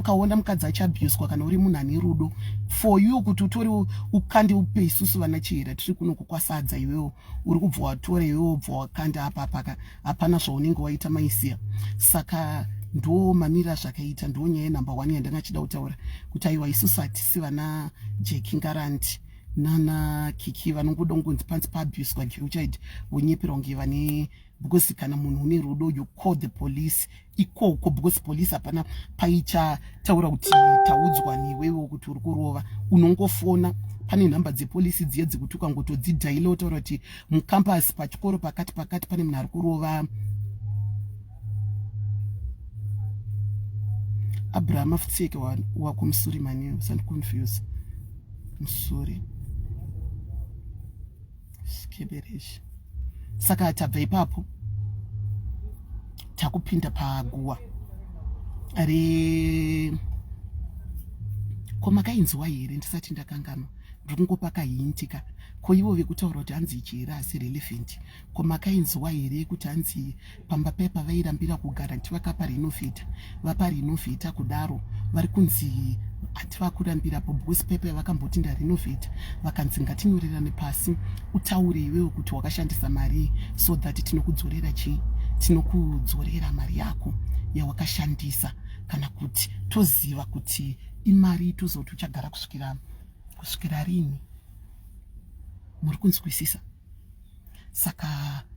ukaona mukadzi achiabuswa kana uri munhu ane rudo for you kuti utore ukande upe isusu vana chihera tiri kuno kukwasadza iwewo uri kubva watora iwewo bva wakanda apapaka hapana zvaunenge waita maisiya saka ndo mamira zvakaita ndo nyaya yenumber one yandanga chida kutaura kuti aiwa isusu hatisi vana jeki ngaranti nana kiki vanongoda kungonzi panzi paabuswa geuchaid vonyeperwa kunge vane because kana munhu une rudo you call the police ikoko because police hapana paichataura kuti taudzwa newewo kuti uri kurova unongofona pane nhamba dzepolisi dziye dzekuti ukangotodzidhaila otaura kuti mucampus pachikoro pakati pakati pane munhu ari kurova abraham afutseke wako musuri mani usandiconfuse musuri wa Skibirisha. Saka tabva ipapo takupinda paguwa re ko makainzwa here ndisati ndakanganwa ndiri kungopa kahinti ka ko ivo vekutaura kuti hanzi ichi here asi relevant ko makainzwa here yekuti hanzi pamba paya pavairambira kugara ndichivaka parinofita vaparinofita kudaro vari kunzi hati vakurambira po because pepa yavakamboti ndarinovheta vakanzi ngatinyorerane pasi utaure iwewe kuti wakashandisa marii so that tinokudzorera chii tinokudzorera mari yako yawakashandisa kana kuti toziva kuti imari tozoti uchagara kusvikira kusvikira rini muri kunzwisisa saka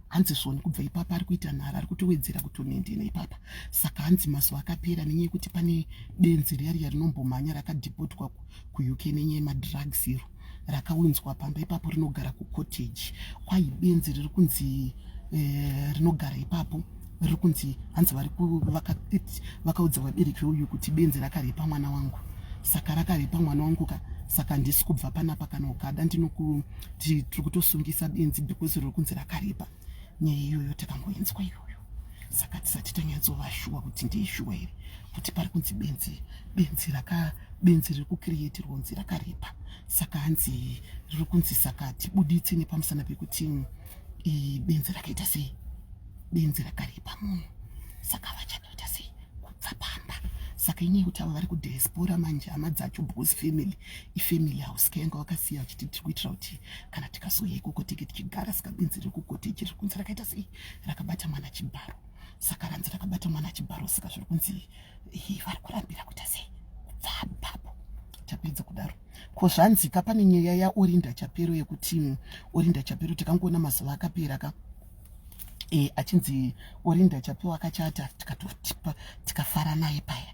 hanzi zvoni kubva ipapa ari kuita nhara ari kutowedzera kutonendena ipapa saka hanzi mazuva akapera nenyaya yekuti pane benzi riya riya rinombomhanya rakadhipotwa kuuk nenyaya yemadrugs iro rakawinzwa pamba ipapo rinogara kucottage kwai benzi riri kunzi eh, rinogara ipapo vari kunzi hanzi vari vakaudza vabereki uyu kuti benzi rakaripa mwana wangu saka rakaripa mwana wangu ka saka handisi kubva panapa kana ukada ndinokuti tiri kutosungisa benzi because riri kunzi rakaripa nyaya iyoyo takangoinzwa iyoyo saka tisati tanyatsova shuwa kuti ndeishuwa here kuti pari kunzi benzi benzi raka benzi riri kucreate ronzi rakaripa saka hanzi riri kunzi saka tibuditse nepamusana pekuti iyi benzi rakaita sei benzi rakaripa munhu saka vachatoita sei kubva pamba saka inyaya yekuti avo vari kudiaspora manje hama dzacho bos family ifamily house kayanga wakasiya vachiti tiri kuitira kuti kana tikasouya ikoko teke tichigara saka benzi riri kukoteji riri kunzi rakaita sei rakabata mwana chibharo saka ranzi rakabata mwana chibharo saka zviri kunzi vari kurambira kuita sei kubva papo tapedza kudaro Ko zvanzika pane nyaya ya Orinda Chapero yekuti mm, Orinda Chapero tikangoona mazuva akapera ka e, achinzi Orinda Chapero akachata tikafara naye paya